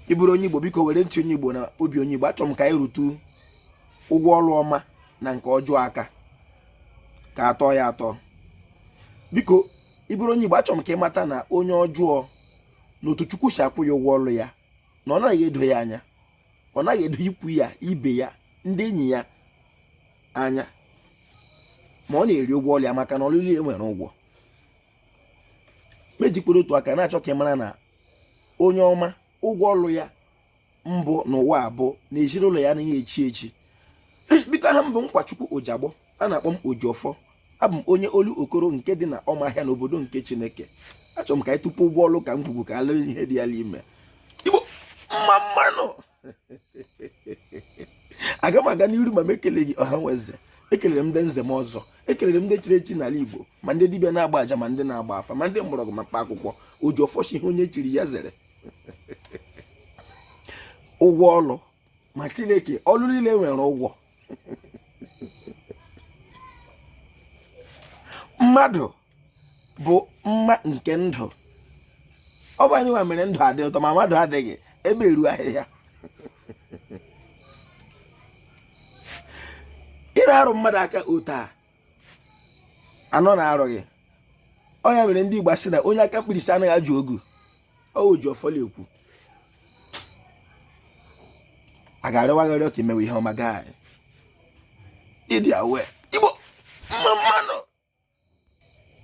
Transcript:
ị bụrụ onye igbo biko were ntị onye igbo na obi onye igbo achọrọ m ka anyị rụtụ ụgwọ ọrụ ọma na nke ọjọọ aka ka a tọọ ya atọ biko ị bụrụ onye igbo achọrọ m ka ị mata na onye ọjọọ na otu chukwu si akwụ ya ụgwọ ọrụ ya na ọ naghị edo ya anya ọ naghị edo ikwu ya ibe ya ndị enyi ya anya ma ọ na-eri ụgwọ ọrụ ya maka na ọlụ niile nwere ụgwọ m ejikwere otu aka na-achọ ka ị mara na onye ọma ụgwọ ọlụ ya mbụ n'ụwa a bụ na ezinụlọ ya anaghị echi echi biko aha m bụ Nkwachukwu Ojagbọ a na-akpọ m Ojiọfọ abụ m onye Olokoro nke dị na ọmahịa n'obodo nke Chineke achọrọ m ka anyị tọpụ ụgwọ ọlụ ka ngwugwu ka a lụ ihe dị ya n'ime Igbo mma mmanụ aga m aga n'iru ma m ekeleghị ọha nwe eze ekelere m ndị nze ma ọzọ ekelere m ndị chiri echi n'ala igbo ma ndị dibịa na-agba aja ma ndị na-agba afa ma ndị mgbọrọgwụ ma mkpa akwụkwọ ojiọfọ sị ihe onye chiri ya zere ụgwọ ọlụ ma chineke ọlụ niile nwere ụgwọ mmadụ bụ mma nke ndụ ọ bụ anyị nwa mere ndụ adị ụtọ ma mmadụ adịghị ebe eru ahịhịa ị na-arụ mmadụ aka otu a anọ na-arụ gị ọ ya mere ndị Igbo si na onye aka mkpirisi anaghị ajụ ogu ọ Ojiọfọ na-ekwu a ga-arịwagharị ọka imewe ihe ọma gaa ịdị awe igbo mma mmanụ